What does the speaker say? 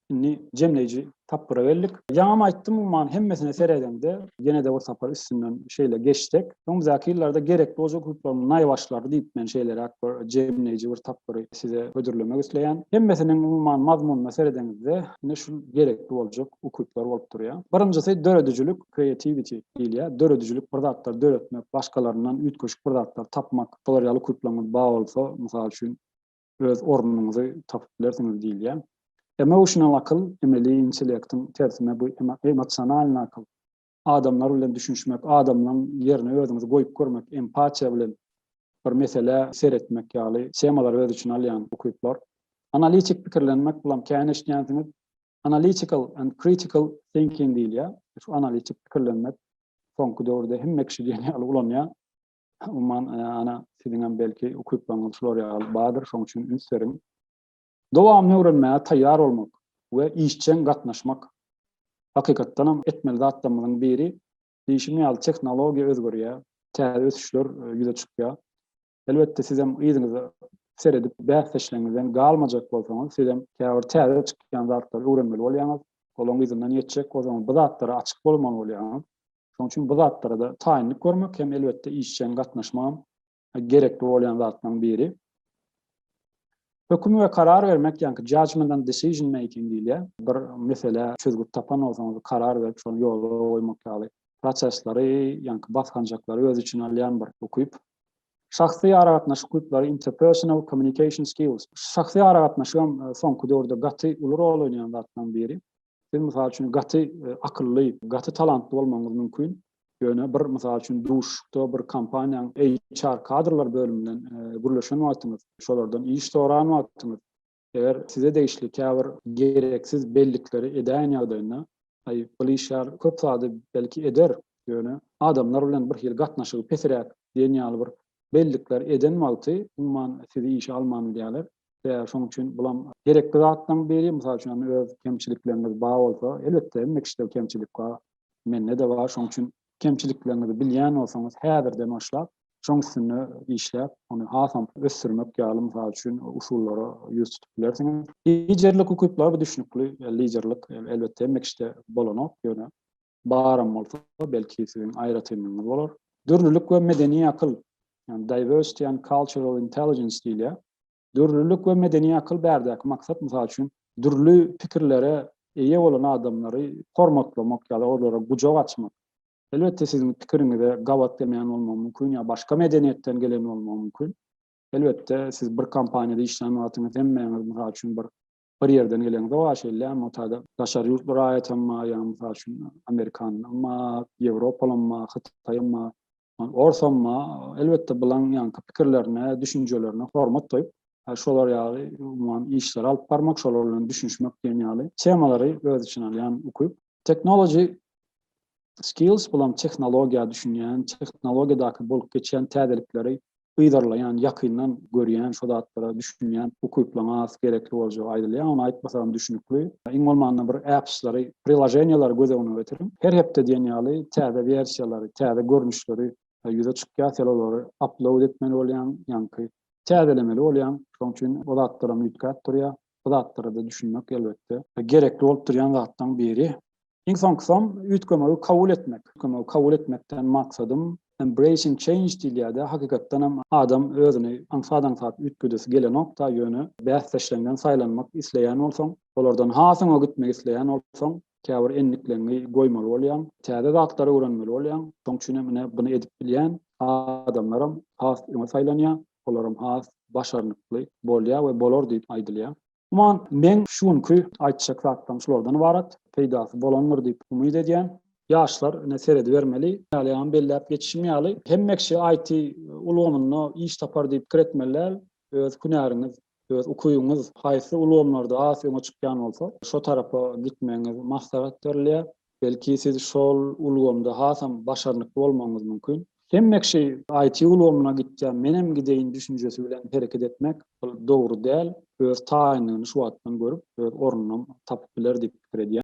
Indi jemleýji tapgyra geldik. Ýaňam aýtdym, umuman, hemmesine seredeňde, ýene-de bir sapar üstünden şeýle geçsek, öňümüzdäki ýyllarda gerek boljak ukyplaryň naýbaşylary diýip, men şeýleräk bir jemleýji bir tapgyry size hödürlemek isleýän. Hemmesiniň, umuman, mazmunyna seredeňizde, ine, şul gerekli boljak ukyplar bolup durýar. Birinjisi, döredijilik, creativity, diýilýär. Döredijilik, bir zatlar döretmek, başgalaryndan üýtgeşik bir zatlar tapmak, şolar ýaly ukyplaryňyz bar bolsa, mysal üçin, öz ornuňyzy tapyp bilersiňiz diýilýär. Emotional akyl, emeli intellektiň tersine bu emosionalny akyl. Adamlar bilen düşünişmek, adamlaň ýerine özüňizi goýup görmek, empatiýa bilen bir meselä seretmek ýaly temalary öz içine alýan ukyplar. Analitik pikirlenmek, bulam kän eşitýänsiňiz, analytical and critical thinking diýilýär. Şu analitik pikirlenmek soňky döwürde hemme kişi diýen ýaly ulanýar. Umuman, ana, siziňem belki ukyplaryňyz şular ýaly bardyr, şonuň üçin üns beriň. Dowamyny öwrenmäge taýýar bolmak we işjeň gatnaşmak. Hakykatdan hem etmeli zatlarymyzyň biri. Diýşim ýaly, tehnologiýa özgerýär, täze ösüşler ýüze çykýar. Elbetde, sizem yzyňyza seredip, bäsdeşleriňizden galmajak bolsaňyz, sizem käbir täze çykýan zatlary öwrenmeli bolýaňyz, olaryň yzyndan ýetjek bolsaňyz, bu zatlara açyk bolmaly bolýaňyz. Şonuň üçin bu zatlara-da taýynlyk görmek hem elbetde işjeň gatnaşmagam gerekli bolýan zatlaryň biri. Höküm we karar bermek, ýagny judgment and decision making diýilýär. Bir meselä çözgüt tapan bolsaňyz, karar berip, şony ýola goýmak ýaly prosesleri, ýagny basgançaklary öz içine alýan bir ukyp. Şahsy aragatnaşyk ukyplary, interpersonal communication skills. Şahsy aragatnaşyk hem e, soňky döwürde gaty uly rol oýnaýan zatlaryň biri. Siz mysal üçin gaty akylly, gaty talantly bolmagyňyz mümkin. Ýöne bir mysal üçin duşuşykda bir kompaniýanyň HR kadrlar bölümi bilen gürleşen wagtyňyz, şolardan iş soran wagtyňyz, eger size degişli käbir gereksiz bellikleri edäýen ýagdaýynda, aý, ol işgär köp zady belki eder, ýöne adamlar bilen birhili gatnaşygy pesiräk diýen ýaly bir Bellikler eden wagty, umuman, sizi işe alman bilýärler. Sebäbi şonuň üçin bulam gerekli zatlaryň biri. Mysal üçin, öz kemçilikleriňiz bar bolsa, elbetde, hemme kişide kemçilik bar, mende-de bar. Şonuň üçin kemçilikleriňizi bilýän bolsaňyz, häzirden başlap, şoň üstünde işläp, ony hasam ösdürmek ýaly, mysal üçin, usullara ýüz tutup bilersiňiz. Liderlik ukyplary, bu düşnükli. Liderlik, elbetde, hemme kişide bolanok, ýöne Baram bolsa, belki siziň aýratynlygyňyz bolar. Dürlülik we medeni akyl, ýagny diversity and cultural intelligence diýilýär. Dürlülik we medeni akyl bärdäki maksat, mysal üçin, dürli pikirlere eýe bolan adamlary hormatlamak ýa-da olara gujak açmak. Elbetde, siziň pikiriňize gabat gelmeýän bolmagy mümkin ýa başga medeniýetden gelen bolmagy mümkin. Elbetde, siz bir kompaniýada işlän wagtyňyz hemmäňiz, mysal üçin, bir bir ýerden gelen zor şeýle motada daşary ýurtly raýatam bar ýa mysal üçin amerikanam bar ýewropalam bar hytaýam bar orsam bar elbetde bulaň ýaňky pikirlerine düşünjelerine hormat goýup şolar ýaly umuman işleri alyp barmak şolar bilen düşünişmek diýen ýaly temalary öz içine alýan ukyp technology Skills bulam tehnologiýa düşünýän, tehnologiýadaky bolup geçýän täzelikleri yzarlaýan, ýakyndan görýän, şo zatlara düşünýän ukyplygyň has gerekli boljagy aýdylýar. Ony aýtmasagam düşünikli. Iň bolmanda bir apps-lary, priloženiýalary göz öňüne getiriň. Her hepde diýen ýaly täze wersiýalary, täze görnüşleri ýüze çykýar. Sen olary upload etmeli bolýaň, ýaňky täzelemeli bolýaň. Şonuň üçin o zatlaram üýtgäp durýar. Bu zatlara-da düşünmek, elbetde, gerekli bolup durýan zatlaryň biri. Iň soňkusam, üýtgemegi kabul etmek. Üýtgemegi kabul etmekden maksadym, embracing change diýilýär-de, hakykatdan hem adam özüni aňsat-aňsat üýtgedesi gelenok-da, ýöne bäsdeşleňden saýlanmak isleýän bolsaň, olardan has öňe gitmek isleýän bolsaň, Käbir endikleňňi goýmaly bolýaň. Täze zatlary öwrenmeli bolýaň. Şoň üçin hem ine buny edip bilýän adamlaram has öňe saýlanýar. Olaram has başarnykly bolýar we bolar diýip aýdylýar. Umuman, meň şu günki aýtjak zatlarym şulardan ybarat. Peýdasy bolandyr diýip umyt edýän. Ýaşlar ine seredibermeli. Ýalyam belläp geçişim ýaly, hemme kişi IT ulgamynda iş tapar diýip pikir etmeli däl. Öz hünäriňiz Öz ukybyňyz haýsy ulgamlarda has öňe çykýan bolsa, şo tarapa gitmegiňiz maslahat berilýär. Belki siz şol ulgamda hasam başarnykly bolmagyňyz mümkin. Hemme kişi IT ulgamyna gitýär, menem gideýin düşünjesi bilen hereket etmek, ol dogry däl. Öz taýynlygyny şu wagtdan görüp, öz ornunam tapyp biler diýip pikir edýän.